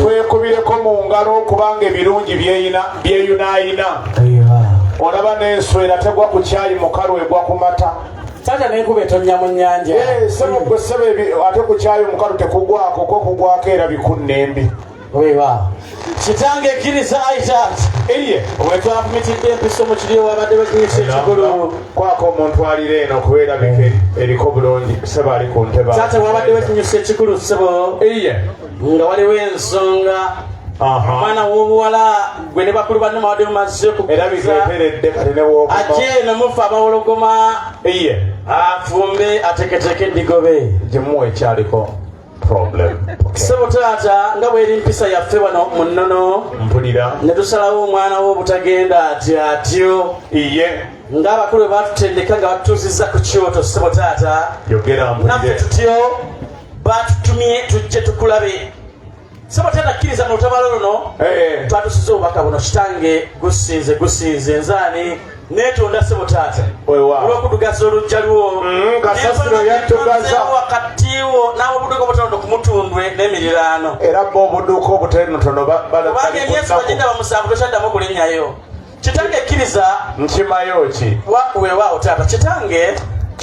twekubireko mu ngalo okubanga ebirungi byeyunaayina olaba n'enswera tegwa ku kyayi mukalu egwa ku mata sanja nekuba etonya mu nyanja eh, ate ku kyayi omukalu tekugwako kokugwako era bikunnembi Wewa. Kitange kiriza Isaac. Eye. Wetwa mitidde empiso mu kiri wabadde bakinyisa ekigulu. Kwako omuntu alira eno kubeera bike eriko bulungi kusaba ali ku ntebe. Taata wabadde bakinyisa ekigulu ssebo. Eye. Nga waliwo ensonga omwana wobuwala gwe ne bakulu banne mabadde mumaze kuate nomufa abawologoma afumbe ateketeke edigobe gimuwa ekyaliko ssebo taata nga bweri mpisa yaffe wano mu nnono mpulira ne tusalawo omwana wo obutagenda ati atyo iye ng'abakulu bwe batutendeka nga batutuuzizza ku kyoto ssebo taata naffe tutyo batutumye tujje tukulabe sebo tatakkiriza mu lutabalo luno eh. twatusiza obubaka buno kitange gusinze gusinze nzaani netonda sebo taata olwokudugaza olujja lwo mm, kasasiro yatugaza wakatiwo nawe obuduka obutonoto kumutundwe nemiriraano era bo obuduka obutonotono kubanga emyezi bagenda bamusanvu tokyaddamu okulinyayo kitange kkiriza nkimayo ki wewawo taata kitange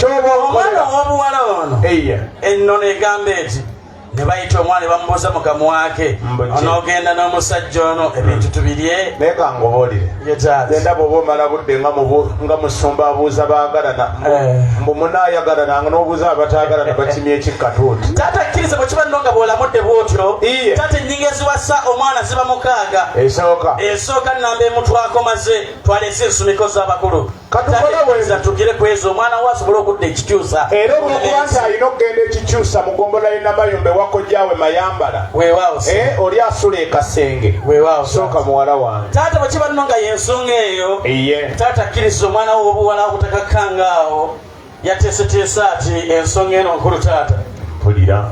omwana owobuwala ono ennono egamba eti ne bayita omwana bamubuuza mugamu wake onogenda n'omusajja ono ebintu hmm. tubirye naye kangobolire genda bwoba omala budde nga musumba abuuza baagalana eh. mbu munaayagalana n'obuuza abataagalana bakimya ekikkatuuti taata kkiriza bwe kiba nno nga bw'olamudde bw'otyo taata ennyingo eziwasa omwana ziba mukaaga esooka esooka nnamba emutwako maze twalese ensumiko z'abakulu katugire kwezo omwana we asobole okudda ekikyusa era olwokuba nti alina okugenda ekikyusa mu gombola ye namayumba ewakojjawe mayambala eh, oli asula ekasenge sooka muwala wange taata bwekiba nno nga yensonga eyo taata akkiriza omwana we obuwala obutakakkangaawo yateeseteesa ati ensonga eno nkulu taata mpulira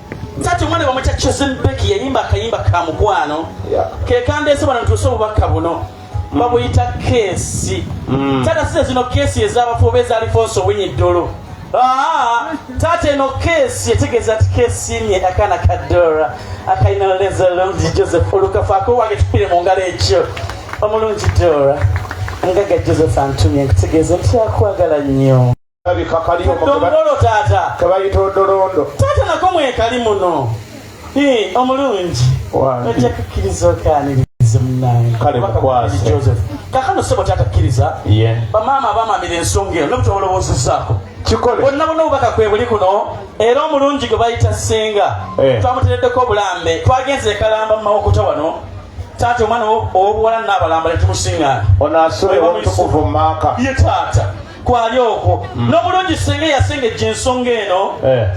Tati mwana wa mwacha Chosen Becky yayimba akayimba ka mukwano yeah. kekande ese bana ntuso bubaka buno babuyita mm. kesi mm. tata sise zino kesi ezabafuba eza Alfonso Winyi Dolo ah, tata eno kesi etegeza ti kesi nye akana kadora akaina leza lonzi Joseph olukafa ako wage tupire mu ngalo ekyo omulungi Dora ngaga Joseph antumye nkutegeza nti akwagala nnyo Labika kali omu Dongolo taata. kebayita odolondo Taata nako mwekali muno. Eh, omulungi. Wange. Ojja kukkiriza okaaniriza munnange. Kale Obaka mukwase. Bukulu Joseph. Kakano ssebo taata kkiriza. ye Bamaama abamaamira ensonga eno nobutwa olowoozezaako. kikole bonna bonna obubaka kwe buli kuno era omulungi gwe bayita ssenga Eh. twamutereddeko obulambe twagenze ekalamba mu mawokota wano taata omwana owo- ow'obuwala naabalamba ne tumusiŋŋaana ono asula ew'omutukuvu mu maaka ye taata kwali okwo mm. n'obulungi singa eyasengejja ensonga eno eh.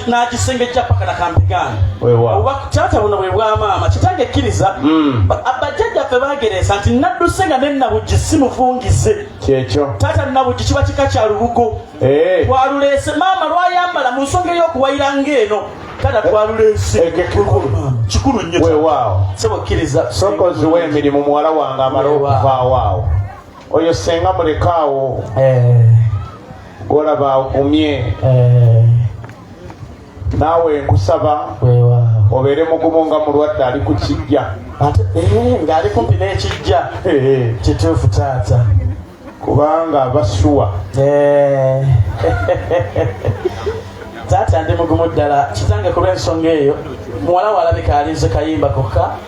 n'agisengejja paka nakampigaana oba taata buno bwe bwamaama kitange ekkiriza mm. bajjajja ffe bagereesa nti nadduse nga nenabuggi si mufungize kyekyo taata nabuggi kiba kika kya lubugo eh. twaluleese maama lwayambala mu nsonga ey'okuwayira ngaeno taata eh. twaluleese kikulu nnyo sebo kkiriza sokozi w'emirimu muwala wange amala okuvaawo awo oyo senga mulekaawo eh. golaba agumye eh. naawe nkusaba obeere mugumu nga mulwadde ali ku kijja eh, ng'ali kumpi n'ekijja kituufu taata kubanga basuwa taata ndi mugumu ddala kitange kuba ensonga eyo muwala walabika alinze kayimba kokka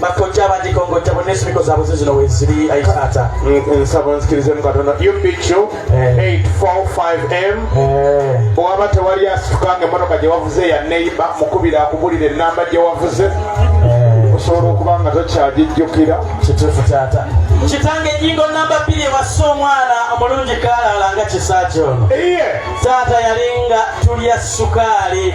bakojja abagikongojja bonna ensimiko zaabwe ze zino weziri ayi taata nsaba onzikirizemu katonda upq 845m bwewaba tewali asitukanga emotoka gye wavuze ya neiba mukubira akubulira enamba gye wavuze eh. osobola okuba nga tokyagijjukira kituufu taata kitange ennyingo namba bbiri ewassa omwana omulungi kaalaalanga kisaaki ono taata yalinga tulya sukaali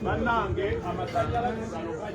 Manange, a Matalla la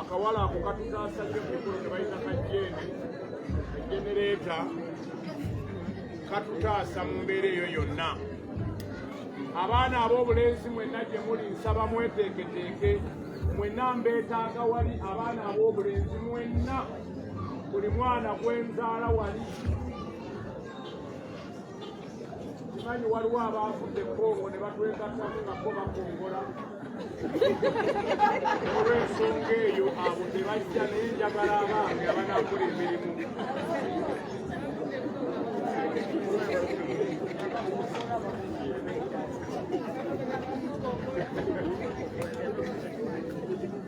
akawala ako katutaasa nnyo kukulu ke bayita kajjeene ejenereeta katutaasa mu mbeera eyo yonna abaana ab'obulenzi mwenna gye muli nsaba mweteeketeeke mwenna mbeetaaga wali abaana ab'obulenzi mwenna buli mwana gwenzaala wali Manyi waliwo abaafudde ekkongo ne batwegattamu nga bo bakongola olw'ensonga eyo abo tebajja naye njagala abaami abanakola emirimu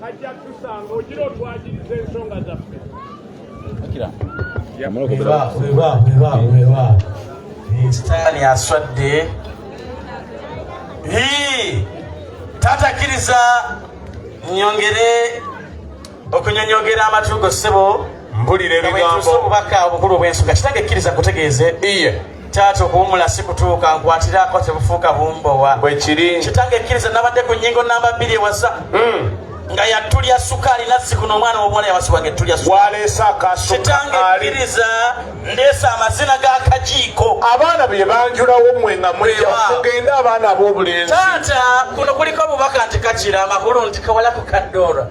kajja tusanga ogira otwagiriza ensonga zaffe sitaani aswadde tatakiriza nyongere okunyonyogera amatugo sebo mbulira ebigambo obubaka obukulu obw'ensonga kitange kkiriza kutegeeze iye taata okuwumula si kutuuka nkwatiraako tebufuuka bumbowa bwekiri kitange ekkiriza nabadde ku nyingo namba bbiri ewasa hmm. nga yatulya sukaali nazzikuno omwana womuwala yawasibwanga ettulya kitange kkiriza ndeesa amazina g'akajiiko abaana bye banjulawo mwe nga mweja kugenda abaana ab'obulenzi taata kuno kuliko obubaka nti kakira amakulu nti kawala ku kaddoora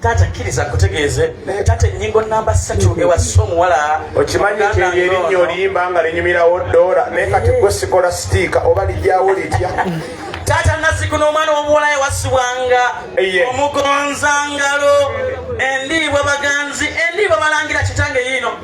taata kkiriza kutegeeze naye taata ennyingo namba ssatu ewassa omuwala okimanyi nti eyo erinnya oliyimba nga linyumirawo doola naye kati gwe sikola sitiika oba lijyawo litya taata naziku n'omwana w'omuwala yawasibwanga omugonzangalo endiibwa baganzi endiibwa balangira kitange yiino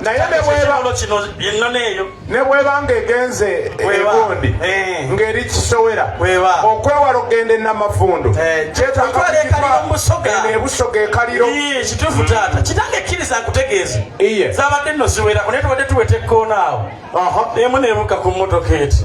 naye nekikono kino ennono eyo ne bweba nga egenze egundi eh. ng'eri kisowera okwewala okugenda enamafundu eh, kyetagaeno ebusoga ekaliro kituufu taata kitange ekkiriza nkutegeeza zabadde nno ziwerako naye tubadde tuweta ekkoona awo emu nebuka ku mmotoka eti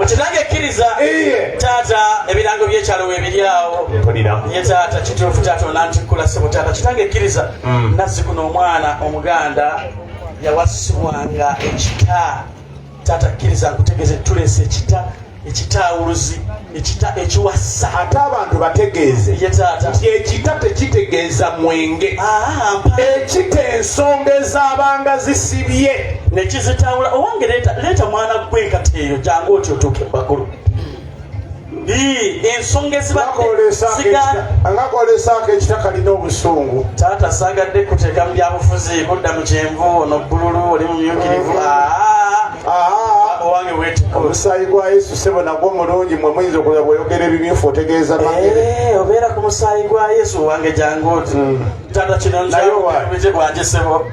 mukinange ekkiriza taata ebirango byekyalo webiryawo ye taata kituufu taata onantikkula sebo taata kitange ekkiriza hmm. nazzi kuno omwana omuganda yawasibwanga ekita taata kkiriza nkutegeze tulese ekita ekitaawuluzi ekita ekiwasa ate abantu bategeeze nti ekita tekitegeeza mwenge ah, ekita ensonga ezabanga zisibye nekizitawula owange leeta mwana gwe enkata eyo jangu oti otuuke mubagulu ensonga ezibaangakolesaako ekita kalina obusungu taata sagadde kuteeka mu byabufuzi kudda mu kyenvu ono bbululu oli mumyukirivu mm. ah. omusaayi gwa yesu sebo nagwo mulungi mwe muyinza okuza bweyogera ebimyufu otegeeza eh, obeera ku musaayi gwa yesu wange jangu oti hmm. tata kino nze bwanje sebo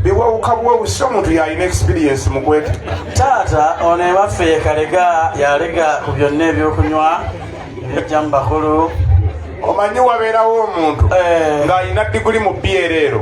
biwawuka bwewusi omuntu yalina experience mukwete taata ono ewaffe yekalega yalega ku byonna ebyokunywa ebijja mu bakulu omanyi wabeerawo omuntu eh. ng'alina diguli mu byereero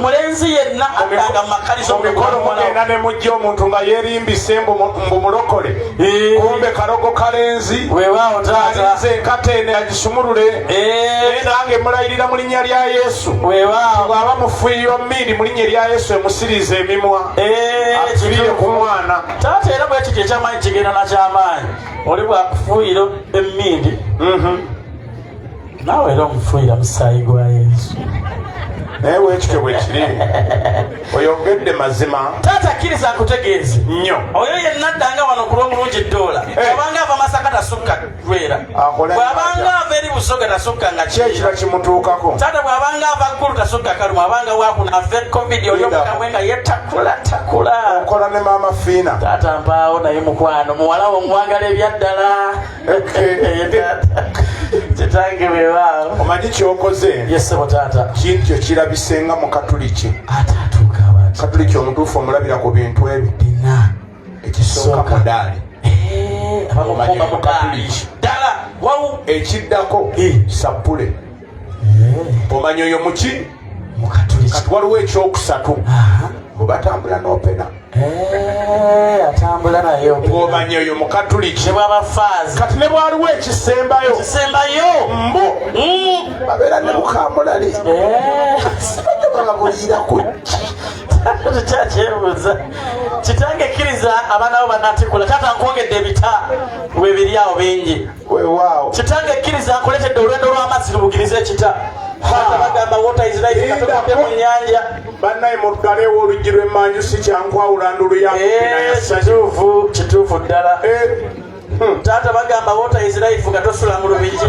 mulenzi yenna atanga mumakalizo mumikolo mugenda ne mujja omuntu nga yerimbise mbu mulokole kumbe karogo kalenzi wewawo taatalinze enkata ene agisumulule naye nange mulayirira mu linnya lya yesu wewawo bwaba mufuyiyo mmindi mu linnya erya yesu emusiriza emimwa atulire ku mwana taata era bwekityo ekyamaanyi kigenda nakyamaanyi oli bwakufuuyira emmindi mhm. naawe era omufuuyira musaayi gwa yesu naye wekityo bwekiri oyogedde mazima taata kkiriza nkutegeeze nnyo oyo yenna addanga wano ku lw'omulungi ddoola eh. abanga ava masaka tasukka lwera bw'abanga ava eri busoga tasukka nga kyekiba kimutuukako taata bw'abanga ava ggulu tasukka kalumu abanga wakuna ave covid oli omukamwe nga yetakula takula okola ne maama fiina taata mpaawo naye mukwano muwalawo omwagala ebyaddala kitange bebaawo omanyi kyokoze yesebo taata kintu kyo kirabisenga mu katuliki ate atuuka abantu katuliki omutuufu omulabira ku bintu ebyo bina ekisooka mudaali eh, abamukomba mukatuliki ddala wawu ekiddako eh. sappule eh. omanya oyo muki kati waliwo ekyokusatu bwebatambula nopena eh, atambula naye ng'omanya oyo mukatuliki bwaba faazi kati ne bwaliwo ekisembayo ekisembayo mbu mm. babeera ne bukamulali eh. bababuliira ku kyakyebuuza kitange kkiriza abaana bo banatikula taata nkwongedde ebita webiri awo bingi wewaawo kitange kkiriza nkuletedde olwendo lw'amazzi lubugiriza ekita bagamba water is life katukutte mu nyanja bannaye muddalewo oluggi lw'emmanju si kyankwawula ndulu yakituufu eh, kituufu ddala eh. hmm. taata bagamba water is life nga tosula mu lubigi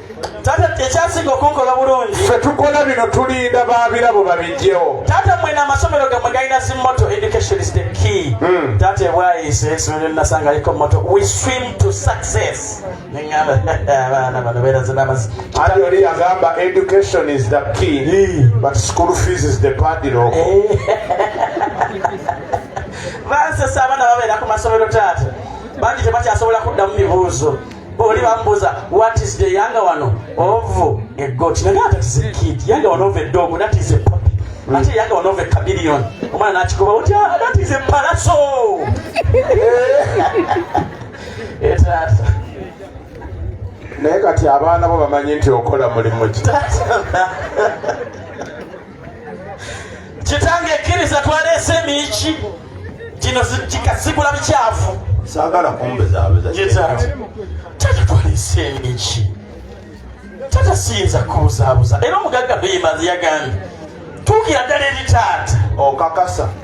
taata ekyasinga okunkola bulungi fe tukola bino tulinda babirabo babijjewo taata mwena amasomero gamwe galina zimoto education is the key mm. taata ebwayise esomero linasanga liko moto we swim to success neŋamba abaana bano beeraze n'amazi ati oli yagamba education is the key mm. but school fees is the padiro eh. bansesa abaana babeera ku masomero taata bangi tebakyasobola kuddamu mibuuzo oli bambuza what is the younger one of a goat naye ate is a kid younger one of a dog that is a puppy mm. ate younger one of a chameleon omwana nakikuba oti ah, that is a palaso etaata naye kati abaana bo bamanyi nti okola mulimu ki kitange ekkiriza twaleese emiyiki gino kikasigula bikyafu sagala kumbezabezatata twaleese emiyiki tata siyinza kubuzabuza era omugagga beyimanzi yagambye tuukira ddala eri taata okakasa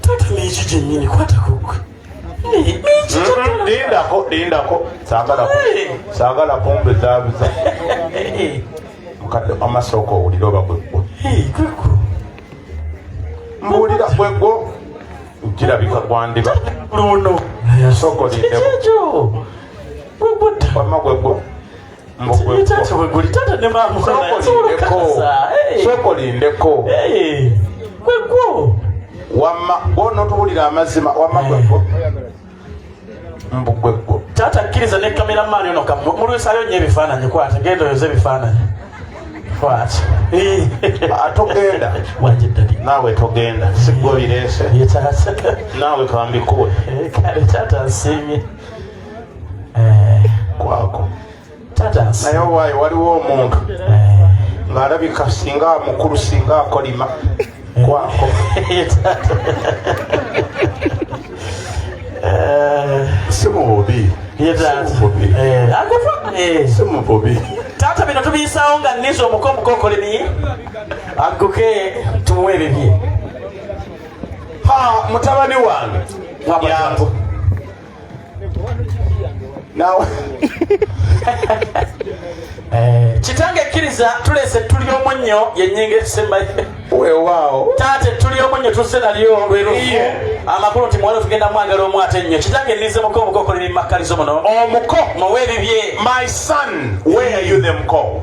taata mingi gyennyini kwatakugwe lindako lindako sagala kumbe zabuza mukadde amasooka owulira oba gwegwo mbuulira gwegwo kirabika gwandiba luno sooka olindeko wama gwegwo sokolindeko kwekwo wamma gwono tuwulira amazima wamma gwegwo mbu gwegwo taata kkiriza ne kamera maani ono mulwisayo nyo ebifaananyi kwata genda oyoza ebifaananyi kwata atogenda naawe togenda sigwe obireese naawe kambikuwe kale taata nsiimye eh. kwako naye owaayo waliwo omuntu eh. ng'alabika singa mukulu singa akolima eh. kwako si mububi si mububi taata bino tubiyisawo nga niza omuko omukokolemi agguke tumuwe ebibye ha mutabani wange nawe eh, kitange ekkiriza tulese tuli omunnyo yenyinga esembayo wewaawo taata ettuli omunnyo tuzze nalyo lwerufu amakulu nti muwala tugenda mwagala omu ate nnyo kitange nnize muko omukoko liri mu makkalizo muno omuko muwe ebibye my son where are you the muko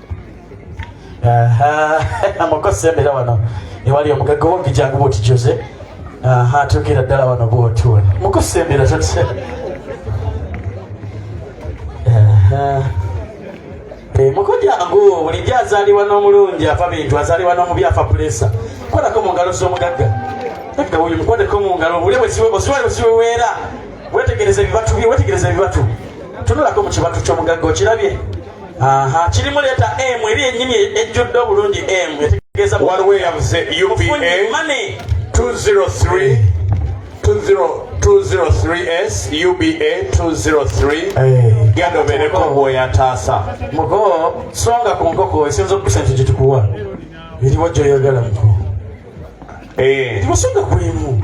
amakosembera wano ewali omugagga wongijangu bwoti jose atuukira ddala wano bwotuula mukusembera totya eh, mukujangu bulijjo azaliwa n'omulungi afa bintu azaliwa n'omubi afa pulesa kolako mu ngalo z'omugagga ekka wuyu mukwateko mu ngalo obule osiwale osiweweera wetegereza ebibatu bye wetegereza ebibatu tunulako mu kibatu ky'omugagga okirabye aha kirimu leeta emu eri ennyini ejjudde obulungi emu etegeeza waliwo eyabuze upa 203 203s uba 203 genda obeereko bwoyataasa muko songa ku nkoko esinza okusa nti gyetukuwa eriwo gyoyagala muko eh. timusonga kulimu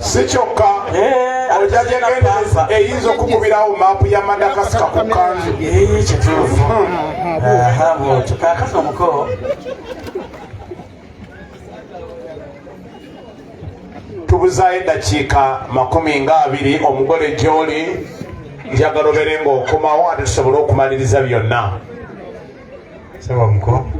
si kyokka eh, ojja gyegendereza eyinza okukubirawo maapu ya madakasika ku kanzu eh, kituufu bwotyo kakati omuko tubuzaayo eddakiika makumi nga abiri omugole gyoli njagala obere ng'okomawo ate tusobole okumaliriza byonna saba omuko